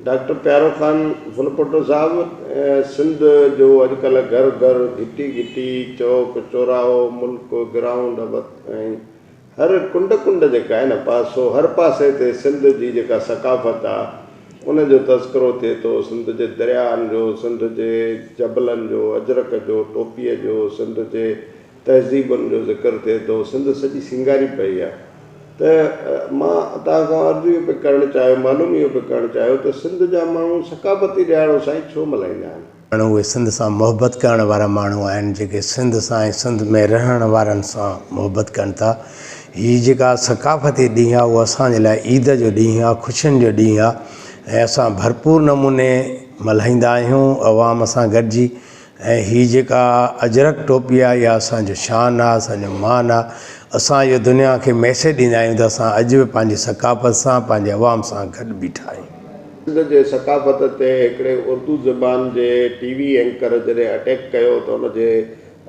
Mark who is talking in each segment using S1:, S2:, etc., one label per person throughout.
S1: Doctor Pyaro Khan Phulpoto Sahib Sindh جو اڄ ڪلهه گهر گهر گهٽي گهٽي چوڪ چوراهو ملڪ گرائونڊ ابت ۽ هر ڪنڊ ڪنڊ جيڪا آهي نه پاسو هر پاسي تي سنڌ جي جيڪا ثقافت آ ان جو تذڪرو ٿئي ٿو سنڌ جي درياهن جو سنڌ جي جبلن جو اجرڪ جو ٽوپي جو سنڌ جي تهذيبن جو ذڪر ٿئي ٿو، سنڌ سڄي سينگاري پئي آ ته مان توهان کان عرض اهو پئي ڪرڻ چاهيو، معلوم اهو پئي ڪرڻ چاهيو ته سنڌ جا ماڻهو ثقافتي ڏهاڙو سائين ڇو ملهائيندا آهن؟ ماڻهو اهي سنڌ سان
S2: محبت ڪرڻ وارا ماڻهو آهن جيڪي سنڌ سان ۽ سنڌ ۾ رهڻ وارن سان محبت ڪن ٿا. هي جيڪا ثقافتي ڏينهن آ اهو اسان جي لاء عيد جو ڏينهن آ، خوشين جو ڏينهن آ ۽ اسان ڀرپور نموني ملهائيندا آهيون عوام سان گڏجي ۽ هي جيڪا اجرڪ ٽوپي آ اها اسان جو شان آ اسان جو مان آ اسان اهو دنيا کي ميسيج ڏيندا آهيون ته اسان اڄ به پنهنجي ثقافت سان پنهنجي عوام سان گڏ بيٺا آهيون. سنڌ جي
S1: ثقافت تي هڪڙي اردو زبان جي ٽي وي اينڪر جڏهن اٽيڪ ڪيو ته ان جي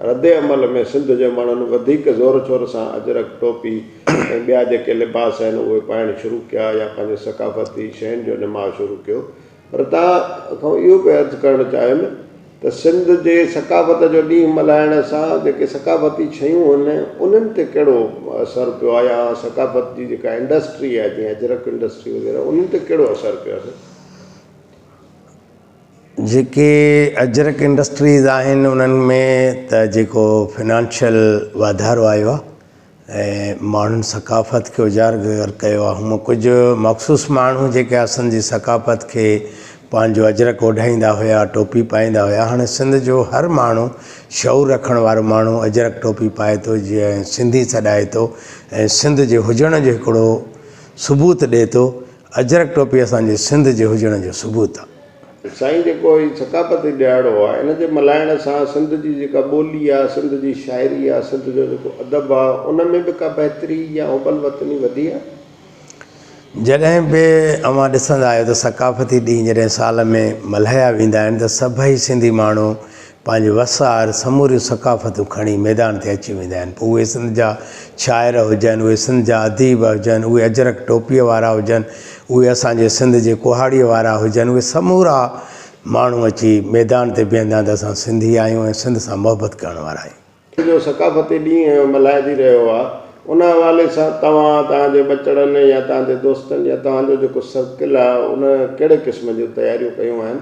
S1: رد عمل ۾ سنڌ جي ماڻهن وڌيڪ زور شور سان اجرڪ ٽوپي ۽ ٻيا جيڪي لباس آهن اهي پائڻ شروع ڪيا يا پنهنجي ثقافتي شين جو نماء شروع ڪيو پر توهان کان اهو پئي عرض ڪرڻ چاهيم ته سنڌ جي ثقافت جو ڏينهن ملهائڻ سان جيڪي ثقافتي شيون آهن انهن تي ڪهڙو اثر پيو آهي يا ثقافت جي جيڪا انڊسٽري آهي جيئن اجرڪ انڊسٽري وغيره انهن تي ڪهڙو اثر پيو آهي؟
S2: جيڪي اجرڪ انڊسٽريز آهن انهن ۾ ته جيڪو فنانشل واڌارو آيو آهي ۽ ماڻهن ثقافت کي اجاگر ڪيو آهي هونء ڪجهه مخصوص ماڻهو جيڪي اسان جي ثقافت کي پنهنجو اجرڪ اوڍائيندا هيا ٽوپي پائيندا هيا هاڻي سنڌ جو هر ماڻهو شعور رکڻ وارو ماڻهو اجرڪ ٽوپي پائي ٿو جيئن سنڌي سڏائي ٿو ۽ سنڌ جي هجڻ جو هڪڙو ثبوت ڏي ٿو اجرڪ ٽوپي اسان جي سنڌ جي هجڻ جو ثبوت آهي سائين جيڪو
S1: هي ثقافتي ڏهاڙو آ ان جي ملهائڻ سان سنڌ جي جيڪا ٻولي آ سنڌ جي شاعري آ سنڌ جو جيڪو ادب آ ان ۾ به ڪا بهتري يا حب الوطني وڌي آ؟
S2: جڏهن به اوهان ڏسندا آهيو ته ثقافتي ڏينهن جڏهن سال ۾ ملهايا ويندا آهن ته سڀئي سنڌي ماڻهو پنهنجي وس آهر سموريون ثقافتون کڻي ميدان تي اچي ويندا آهن پوء اهي سنڌ جا شاعر هجن اهي سنڌ جا اديب هجن اهي اجرڪ ٽوپيء وارا هجن اهي اسان جي سنڌ جي ڪهاڙيء وارا هجن اهي سمورا ماڻهو اچي ميدان تي بيهندا آهن ته اسان سنڌي آهيون ۽ سنڌ سان محبت ڪرڻ وارا آهيون. سنڌ جو ثقافتي
S1: ڏينهن ملهائجي رهيو آهي ان حوالي سان توهان توهان جي ٻچڙن يا توهان جي دوستن يا توهان جو جيڪو سرڪل آهي ان ڪهڙي قسم جون تياريون ڪيون آهن؟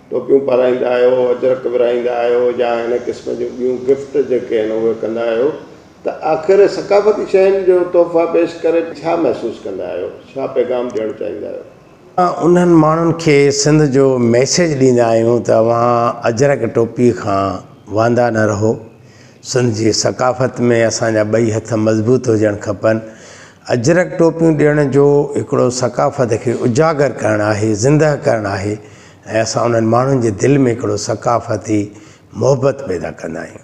S1: ٽوپيون پارائيندا آهيو، اجرڪ ورهائيندا آهيو يا هن قسم جون ٻيون گفٽ جيڪي آهن اهي ڪندا آهيو ته آخر ثقافتي شين جو تحفا پيش ڪري ڇا محسوس ڪندا آهيو؟ ڇا پيغام ڏيڻ چاهيندا آهيو؟ اسان انهن ماڻهن
S2: کي سنڌ جو ميسيج ڏيندا آهيون ته اوهان اجرڪ ٽوپي کان واندا نه رهو، سنڌ جي ثقافت ۾ اسان جا ٻئي هٿ مضبوط هجڻ کپن، اجرڪ ٽوپيون ڏيڻ جو هڪڙو ثقافت کي اجاگر ڪرڻ آهي، زنده ڪرڻ آهي. ۽ اسان انهن ماڻهن جي دل ۾ هڪڙو ثقافتي محبت پيدا ڪندا آهيون.